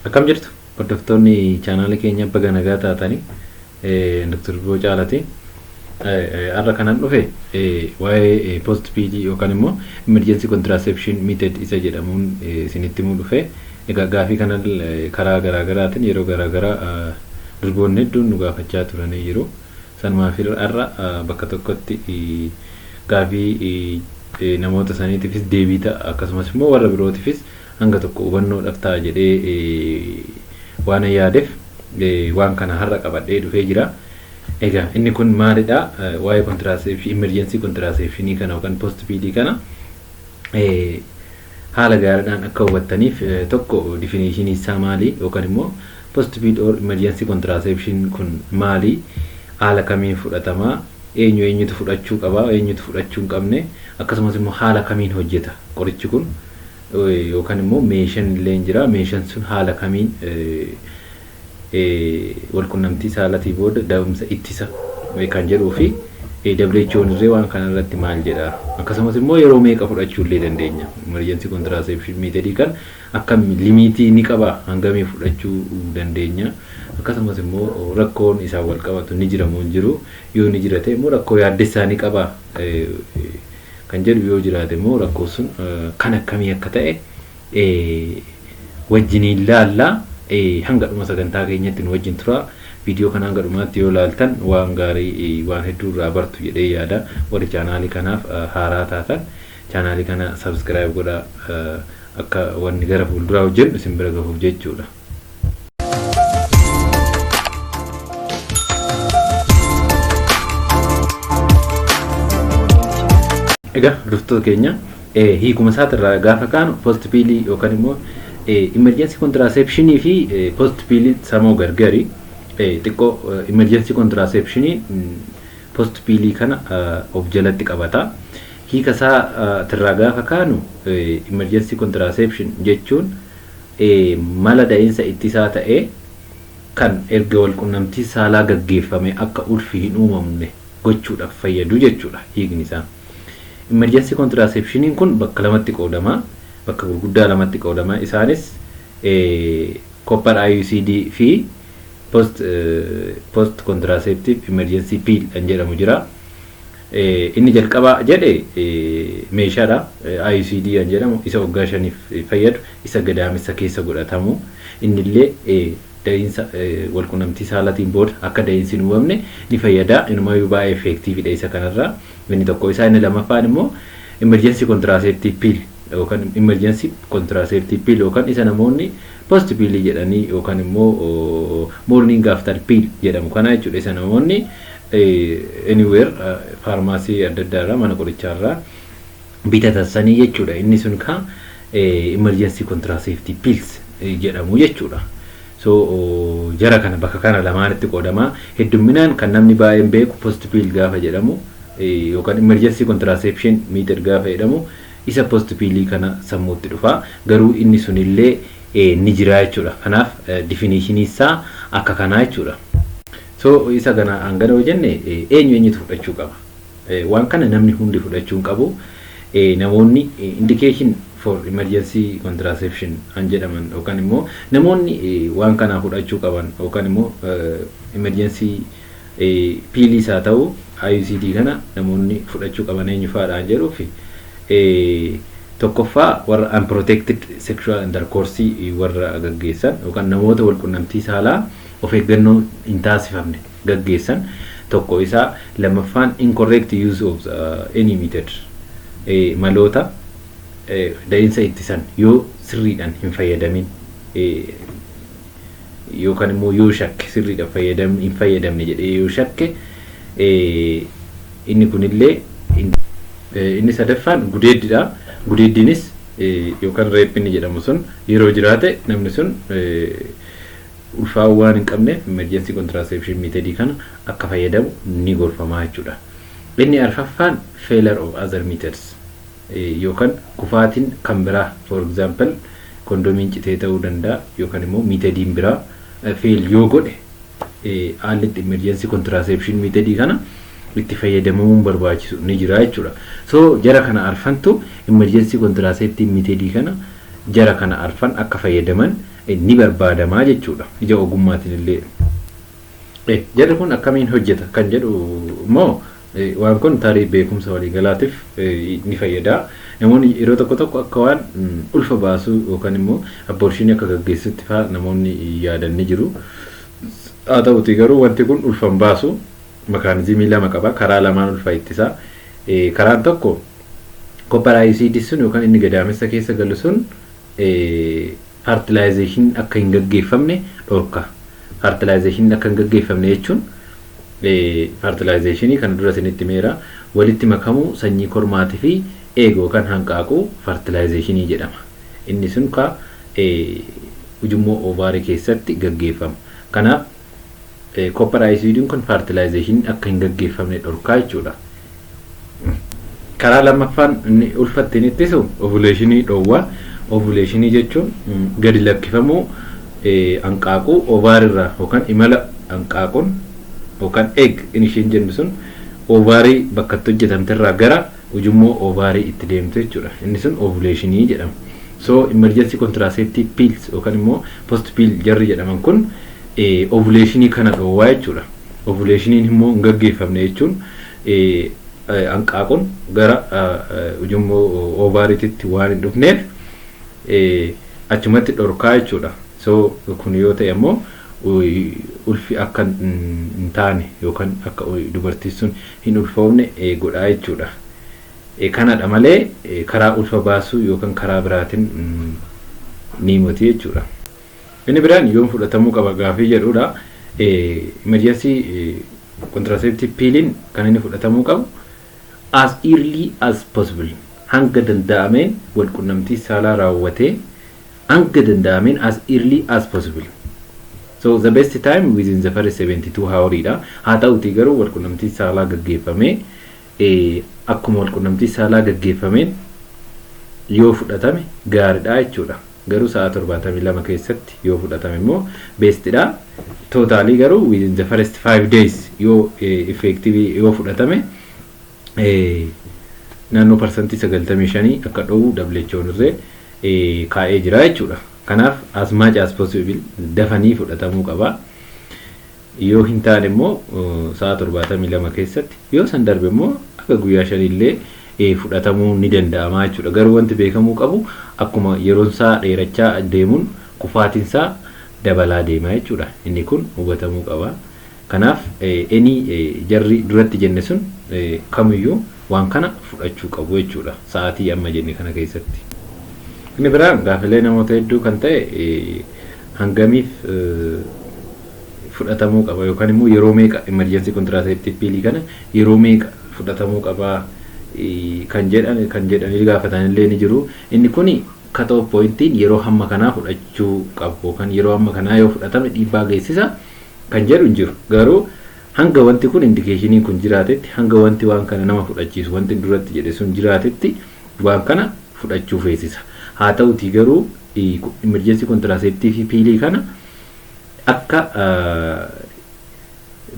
akkam jirtu hordoftoonni chaanaalii keenya baga nagaa taatanii Dr. Boo Caalaati. Har'a kanan dhufe waa'ee post PD yookaan immoo emergency contraception method isa jedhamuun isinitti himuu dhufe. Egaa gaafii kana karaa garaagaraatiin yeroo garaagaraa durboonni hedduun nu gaafachaa turanii jiru. Sanumaaf har'a bakka tokkotti gaafii namoota saniitiifis deebii ta'a akkasumas immoo warra birootiifis hanga tokko hubannoodhaaf ta'a jedhee waanan yaadeef waan kana har'a qabadhee dhufee jira. Egaa inni kun maalidha? Waa'ee kontiraaseepshinii, imerjensii kontiraaseepshinii kana yookaan poost piilii kana haala gaariidhaan akka hubattaniif tokko difiniishinii isaa maali yookaan immoo Postpaid or Emergency Contraception kun maali? Haala kamiin fudhatama? Eenyu eenyutu fudhachuu qaba? Eenyutu fudhachuu hin qabne? Akkasumas immoo haala kamiin hojjeta qorichi kun? Yookan immoo meeshan illeen jira. Meeshan sun haala kamiin walqunnamtii saalatii booda da'umsa ittisa kan jedhuu fi WHOn illee waan kana irratti maal jedha? Akkasumas immoo yeroo meeqa fudhachuu illee dandeenya? Emergency Contraception method kan Akkammi limiitii ni qabaa? Hangamii fudhachuu dandeenya? Akkasumas immoo rakkoon isaan wal qabatu ni jira moo hin jiru? Yoo ni jira ta'e immoo rakkoo yaaddessaa ni qaba kan jedhu yoo jiraate immoo rakkoon sun kan akkamii akka ta'e wajjiniin laalla. Hanga dhuma sagantaa keenyatti nu wajjin turaa. Viidiyoo kana hanga dhumaatti yoo laaltan waan gaarii waan hedduu irraa bartu jedhee yaada. Warri chaanaalii kanaaf haaraa taatan Channel kana subscribe godha akka wanni gara fuulduraa hojjennu isin bira gahuuf jechuudha. Egaa hordoftoota keenya hiikuma isaatirraa gaafa kaanu post piilii yookaan immoo emergency contraception fi post piilii samoo gargari xiqqoo emergency contraception post piilii kana of jalatti qabata. Hiika isaa tirraa gaafa kaanu emergency contraception jechuun mala da'iinsa ittisaa ta'ee kan erga walqunnamtiin saalaa gaggeeffamee akka ulfi hin uumamne gochuudhaf fayyadu jechuudha hiikni isaa. Emergency contraceptioniin kun bakka lamatti qoodama. Bakka gurguddaa lamatti qoodama. Isaanis copper IUCD fi post contraceptive emergency pill kan jedhamu jira. Inni jalqabaa jedhe meeshaadha. IUCD kan jedhamu isa waggaa shaniif fayyadu isa gadaamessa keessa godhatamu. Innillee da'iinsa walqunnamtii saalatiin booda akka da'iinsi hin uumamne ni fayyada. Inumayyuu baay'ee effeektiividha isa kanarraa. Inni tokko isaa inni lamaffaan immoo emergency contraceptive pill yookaan emergency contraceptive pill yookaan isa namoonni post pill jedhanii yookaan immoo morning after pill jedhamu kana jechuudha isa namoonni anywhere faarmaasii adda addaa irraa mana qorichaa irraa bitatan sanii jechuudha inni sun ka emergency contraceptive pills jedhamu jechuudha. So jara kana bakka kana lamaanitti qoodama heddumminaan kan namni baay'een beeku post pill gaafa jedhamu yookaan emergency contraception meter gaafa jedhamu isa post pill kana sammuutti dhufa garuu inni sunillee ni jira jechuudha. Kanaaf definition isaa akka kanaa jechuudha. So isa kana hangana yoo jenne eenyu eenyutu fudhachuu qaba? Waan kana namni hundi fudhachuu hin qabu. Namoonni indication for emergency contraception an jedhaman yookaan immoo namoonni waan kana fudhachuu qaban yookaan immoo emergency piiliis haa ta'u IUCD kana namoonni fudhachuu qaban eenyu faadha an jedhuuf tokkoffaa warra unprotected sexual intercourse warra gaggeessan yookaan namoota walqunnamtii saalaa of eeggannoo hin taasifamne gaggeessan tokko isa lammaffaan incorrect use of the any method maloota da'insa ittisan yoo sirriidhan hin fayyadamin yookan immoo yoo shakke sirriidhan fayyadamni hin fayyadamne jedhee yoo shakke inni kunillee inni sadaffaan gudeeddidha gudeeddiinis yookan reep inni jedhamu sun yeroo jiraate namni sun ulfaa'uu waan hin qabneef Emergency Contraception Method kana akka fayyadamu ni gorfama jechuu dha. Inni arfaffaan Failure of other methods yookan kufaatin kan biraa for example kondomiin citee ta'uu danda'a yookan immoo methodiin biraa fail yoo godhe haalli itti Emergency Contraception Method kana itti fayyadamamuun barbaachisu ni jira jechuu dha. So jara kana arfantu Emergency Contraceptive Method kana jara kana arfan akka fayyadaman ni barbaadama jechuudha. Ija ogummaatiin illee eh, jarri kun akkamiin hojjeta kan jedhu immoo eh, waan kun tarii beekumsa waliigalaatiif eh, ni fayyada. Namoonni yeroo tokko tokko akka waan mm, ulfa baasuu yookaan immoo abborshiinii akka gaggeessutti fa'aa namoonni yaadan ni jiru. Haa ta'uutii garuu wanti kun ulfa hin baasu makaanizimii lama qaba. Karaa lamaan ulfa ittisa. Eh, Karaan tokko kopparaayisiidii sun yookaan inni gadaamessa keessa galu sun faartilaayizeeshiniin akka hin gaggeeffamne dhorka. Faartilaayizeeshiniin akka hin gaggeeffamne jechuun faartilaayizeeshinii kana dura isinitti himeera walitti makamuu sanyii kormaatii fi eegoo kan hanqaaquu faartilaayizeeshinii jedhama. Inni sun ka ujummoo oovaarii keessatti gaggeeffama. Kanaaf Koppar ayisiidiin kun faartilaayizeeshiniin akka hin gaggeeffamne dhorkaa jechuudha. Karaa lammaffaan inni ulfa ittiin ittisu ovuleeshinii dhoowwa. Ovuleeshinii jechuun gadi lakkifamuu hanqaaquu ovaarirraa yookaan imala hanqaaquun yookaan egg inishiin jennu sun ovaarii bakka itti hojjetamterraa gara ujummoo oovaarii itti deemtu jechuudha. Inni sun ovuleeshinii jedhama. So emergency contraceptive pills yookaan immoo post pill jarri jedhaman kun ovuleeshinii kana dhoowwaa jechuudha. Ovuleeshiniin immoo hin gaggeeffamne jechuun hanqaaqun gara ujummoo oovaariititti waan hin dhufneef achumatti dhorkaa jechuudha. So kun yoo ta'e immoo ulfi akka hin taane yookaan akka dubartiin sun hin ulfoofne godha jechuudha. Kanadha malee karaa ulfa baasuu yookan karaa biraatin ni moti jechuudha. Inni biraan yoom fudhatamuu qaba gaafii jedhudha. Emergency contraceptive piilin kan inni fudhatamuu qabu as early as possible hanga danda'ameen walqunnamtii saalaa raawwatee Hanga danda'ameen as early as possible. So the best time within the first 72 hour dha. Haa ta'uutii garuu walqunnamtiin saalaa gaggeeffamee akkuma walqunnamtiin saalaa gaggeeffameen yoo fudhatame gaaridha jechuudha. Garuu sa'aa 72 keessatti yoo fudhatame immoo best dha. Totally garuu within the first 5 days yoo effective yoo fudhatame naannoo parsantii 95 akka dhoowwu WHO'n irree kaa'ee jira jechuudha. Kanaaf as much as possible dafanii fudhatamuu qaba. Yoo hin taane immoo sa'a 72 keessatti yoo san darbe immoo akka guyyaa shanii illee fudhatamuu ni danda'ama jechuudha. Garuu wanti beekamuu qabu akkuma yeroon isaa dheerachaa deemuun kufaatiin isaa dabalaa deema jechuudha. Inni kun hubatamuu qaba. Kanaaf any jarri duratti jenne sun kamiyyuu waan kana fudhachuu qabu jechuudha sa'aatii amma jenne kana keessatti. Inni biraan gaafilee namoota hedduu kan ta'e hangamiif fudhatamuu qaba yookaan immoo yeroo meeqa emergency contraceptive pill kana yeroo meeqa fudhatamuu qaba kan jedhan kan jedhanii gaafatan illee ni jiru. Inni kuni cut off pointiin yeroo hamma kanaa fudhachuu qabu yookaan yeroo hamma kanaa yoo fudhatame dhiibbaa geessisa. kan jedhu hin jiru. Garuu hanga wanti kun indikeeshiniin kun jiraatetti hanga wanti waan kana nama fudhachiisu wanti duratti jedhe sun jiraatetti waan kana fudhachuu feesisa. Haa ta'utii garuu imerjensii kontiraaseeptiivii piilii kana akka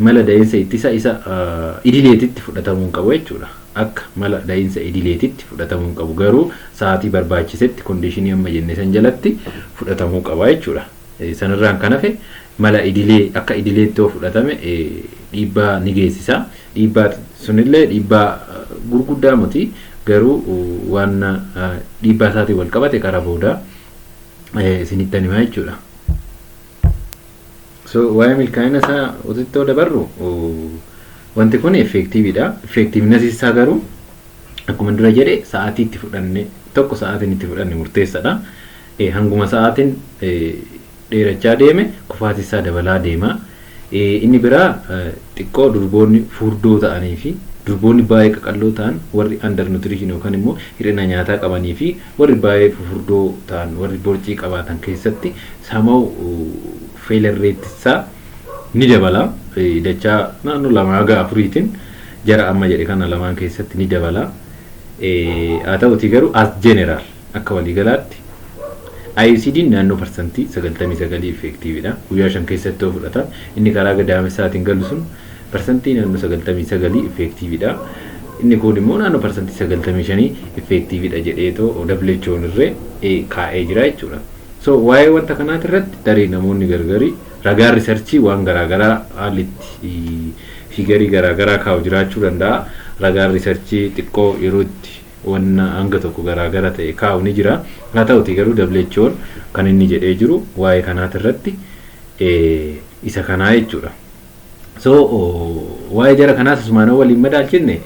mala da'iinsa ittisa isa idileetitti fudhatamuu hin qabu jechuudha. Akka mala da'iinsa idileetitti fudhatamuu hin qabu garuu sa'aatii barbaachisetti kondiishinii amma jenne san jalatti fudhatamuu qaba jechuudha. Sanarraan kan hafe mala idilee akka idileetti yoo fudhatame dhiibbaa ni geessisa. Dhiibbaa sunillee dhiibbaa gurguddaa miti garuu waan dhiibbaa isaatiin wal qabate karaa booda isinittan himaa jechuudha. So waa'ee milkaa'ina isaa otittoo dabarru wanti kun effeektiiviidha. Effeektiivnasi isaa garuu akkuma dura jedhe sa'aatii itti fudhanne tokko sa'aatiin itti fudhanne murteessadha. Hanguma sa'aatiin dheerachaa deeme kufaatiinsaa dabalaa deema. Inni biraa xiqqoo durboonni furdoo ta'aniifi durboonni baay'ee qaqalloo ta'an warri under nutrition yookaan immoo hir'ina nyaataa qabaniifi warri baay'ee fufurdoo ta'an warri borcii qabaatan keessatti somehow failure rate isaa ni dabala. Dachaa naannoo lama haga afuriitiin jara amma jedhe kana lamaan keessatti ni dabala. Haa ta'uutii garuu as general Akka waliigalaatti IUCDn naannoo parsantii 99 effeektiividha. Guyyaa 5 keessatti yoo fudhatan inni karaa gadaamessaatiin galu sun parsantii naannoo 99 effeektiividha. Inni kuun immoo naannoo parsantii 95 effeektiividha jedheetoo WHOn irree kaa'ee jira jechuudha. So waa'ee wanta kanaati irratti tarii namoonni gargari ragaan risarchii waan garaagaraa haalli itti fiigarii garaagaraa kaa'u jiraachuu danda'a. Ragaan risarchii xiqqoo yeroo itti wan hanga tokko garaa gara ta'e kaa'u ni jira. Haa ta'utii garuu WHOn kan inni jedhee jiru waa'ee kanaati irratti isa kanaa jechuudha. So waa'ee jara kanaas asumaan yoo waliin madaalchinne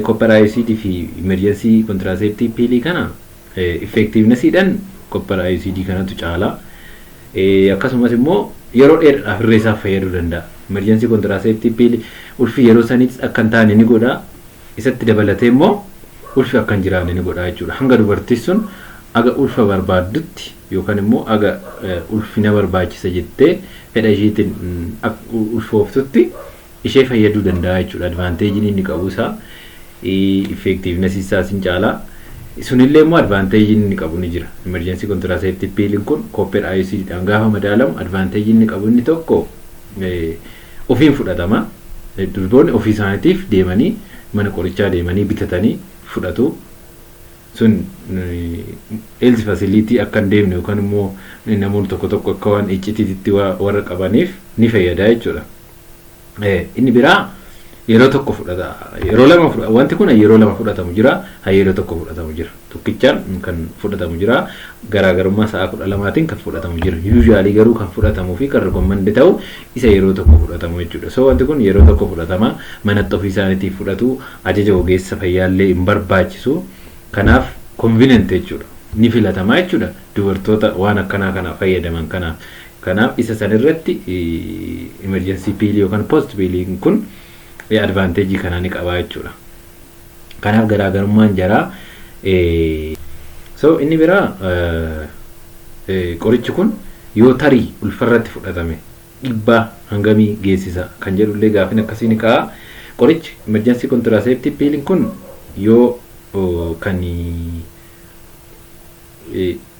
copper IUCD fi emergency contraceptive pill kana effectiveness dhan copper IUCD kanatu caala. Akkasumas immoo yeroo dheeraadhaaf irree isaaf fayyaduu danda'a. Emergency contraceptive pill ulfi yeroo saniitis akka hin taane ni godha. Isatti dabalatee immoo ulfi akka hin jiraanne ni godha jechuudha. Hanga dubartiin sun aga ulfa barbaaddutti yookaan immoo aga ulfi na barbaachisa jettee fedha ishiitiin ulfooftutti ishee fayyaduu danda'a jechuudha. Advaanteejiin inni qabu isaa effectiveness isaas hin caala. Sunillee immoo advaanteejiin inni qabu ni jira. Emergency contraceptive pill kun copper IUCD dhaan gaafa madaalamu advaanteejiin inni qabu inni tokko ofiin fudhatama. Durboonni ofii isaaniitiif deemanii mana qorichaa deemanii bitatanii fudhatu. Sun health facility akka hin deemne yookaan immoo namoonni tokko tokko akka waan iccitiititti warra qabaniif ni fayyada jechuudha. Inni biraa yeroo tokko fudhata yeroo lama fudhata wanti kun yeroo lama fudhatamu jira yeroo tokko fudhatamu jira. tokkichaan kan fudhatamu jira. Garaagarummaa sa'a 12tiin kan fudhatamu jira. Yuuzhaalii garuu kan fudhatamuu fi kan rikommandi ta'u isa yeroo tokko fudhatamu jechuudha. So wanti kun yeroo tokko fudhatama. Manatti ofii isaaniitiif fudhatu. Ajaja ogeessa fayyaallee hin barbaachisu. Kanaaf konvinent jechuudha. Ni filatamaa jechuudha. Dubartoota waan akkanaa kana fayyadaman kanaaf. Kanaaf isa san irratti emerjensii piilii yookaan poost piiliin kun advaanteejii kanaa ni qabaa jechuudha. Kanaaf garaagarummaan jaraa so inni biraa qorichi kun yoo tarii ulfarratti fudhatame dhibbaa hangamii geessisa kan jedhu illee gaafin akkasii ni ka'a. Qorichi emergency contraceptive pill kun yoo kan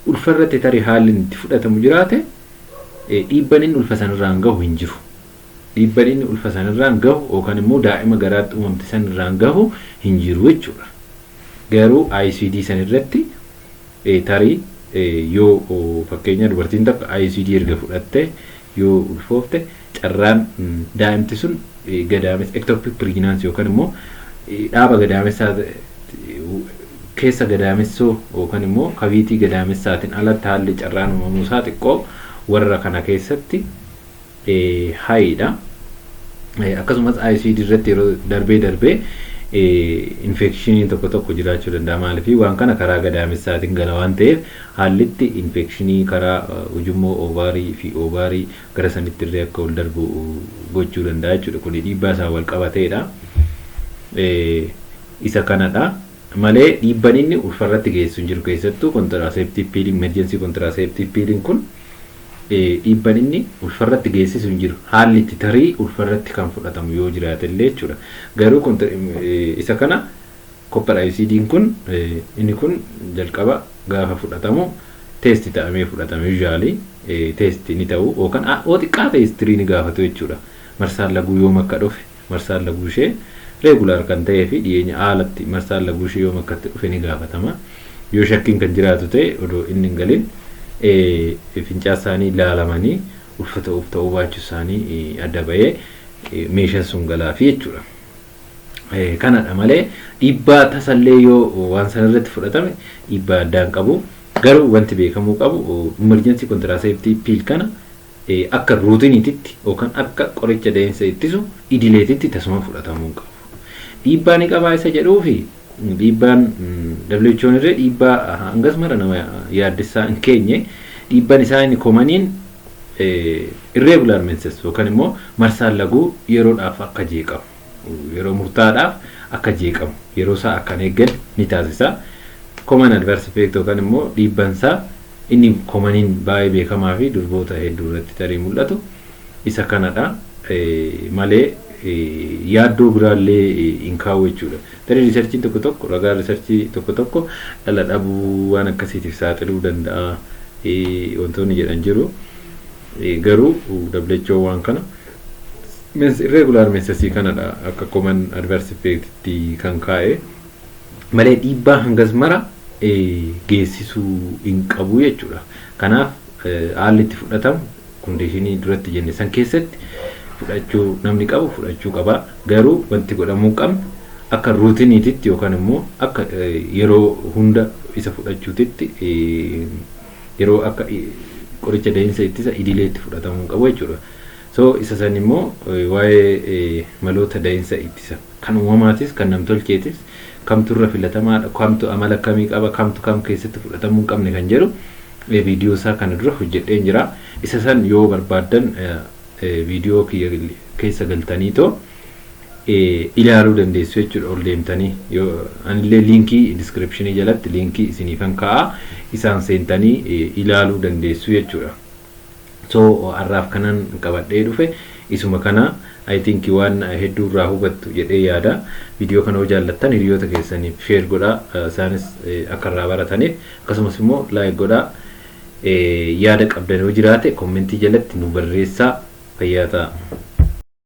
ulfarratti tarii haalli itti fudhatamu jiraate dhiibban inni ulfa sanirraan gahu hin jiru. Dhiibba dhinni ulfa san irraan gahu yookan immoo daa'ima garaatti uumamte san irraan gahu hin jiru jechuudha. Garuu ICD san irratti tarii yoo fakkeenyaa dubartiin takka ICD erga fudhattee yoo ulfoofte carraan daa'imti sun gadaamessa ectopic pregnancy yookan immoo dhaaba gadaamessaa keessa gadaamessoo yookan immoo kaviitii gadaamessaatiin alatti haalli carraan uumamuu isaa xiqqoo warra kana keessatti high dha. Akkasumas ICD irratti yeroo darbee darbee infekshiniin tokko tokko jiraachuu danda'a. Maaliif waan kana karaa gadaamessaatiin gala waan ta'eef haallitti infekshinii karaa ujummoo oovaarii fi oovaarii gara sanitti illee akka ol darbu gochuu danda'a jechuudha. Kun dhiibbaa isaan wal qabateedha. Isa kanadha. Malee dhiibban inni ulfarratti geessu hin jiru keessattuu kontiraaseeptiiv piiliin emerjensii kontiraaseeptiiv piiliin kun dhiibban inni ulfarratti geessisu hin jiru. Haalli itti tarii ulfarratti kan fudhatamu yoo jiraate illee jechuudha. Garuu isa kana koppar ayisiidiin kun inni kun jalqaba gaafa fudhatamu teesti ta'amee fudhatama yuuzhaalii teesti ni ta'u yookaan yoo xiqqaate histirii ni gaafatu jechuudha. Marsaan laguu yoom akka dhufe Marsaan laguushee regular kan ta'ee fi dhiyeenya aalatti marsaan laguushee yoom akka itti dhufe ni gaafatama. Yoo shakkiin kan jiraatu ta'e odoo inni hin galin fincaan isaanii laalamanii ulfa ta'uuf ta'uu baachuu isaanii adda ba'ee meeshan sun galaafi jechuudha. Kanadha malee dhiibbaa tasallee yoo waan sana irratti fudhatame dhiibbaa addaan qabu. Garuu wanti beekamuu qabu emergency contraceptive pill kana akka ruutiniititti yookaan akka qoricha da'insa ittisu idileetitti tasuma fudhatamuu hin qabu. Dhiibbaa ni qabaa isa jedhuufi dhiibbaan WHOn irree dhiibbaa hangas mara nama yaaddessaa hin keenye dhiibban isaa inni komaniin irreegular menses yookaan immoo marsaan laguu yeroodhaaf akka jeeqamu. yeroo murtaa'aadhaaf akka jeeqamu yeroo isaa akka hin eegganne ni taasisa. Common adverse effect yookaan immoo dhiibban isaa inni komaniin baay'ee beekamaa fi durboota hedduu irratti tarii mul'atu isa kanadha malee yaaddoo biraallee hin kaa'u jechuudha. Tarii riisarchiin tokko tokko ragaa riisarchii tokko tokko dhala dhabuu waan akkasiitiif saaxiluu danda'a wantoonni jedhan jiru. Garuu WHO waan kana Means irregular meansasii kanadha akka common adverse effect tti kan kaa'e malee dhiibbaa hangas mara geessisuu hin qabu jechuudha. Kanaaf haalli itti fudhatamu kondiishinii duratti jenne san keessatti fudhachuu namni qabu fudhachuu qaba. Garuu wanti godhamuu hin qabne akka ruutiniititti yookaan immoo akka yeroo hunda isa fudhachuutitti yeroo akka qoricha dahinsa ittisa idileetti fudhatamuu hin qabu jechuudha. So isa san immoo waa'ee maloota dahinsa ittisa kan uumamaatis kan namtolcheetis kamtu irra filatamaadha kamtu amala akkamii qaba kamtu kam keessatti fudhatamuu hin qabne kan jedhu viidiyoo isaa kana dura hojjedheen jira. Isa san yoo barbaaddan Viidiyoo kiyya keessa galtaniitoo ilaaluu dandeessu jechuudha ol deemtanii. Anillee liinkii diskiripshinii jalatti liinkii isiniifan kaa'a isaan seentanii ilaaluu dandeessu jechuudha. So har'aaf kanan qabadhee dhufe isuma kana I think waan hedduu irraa hubattu jedhee yaada. Viidiyoo kana yoo jaallattan hiriyoota keessaniif share godhaa isaanis akka irraa barataniif akkasumas immoo like godhaa. Yaada qabdan yoo jiraate kommentii jalatti nu barreessaa. Fayyaa ta'aa!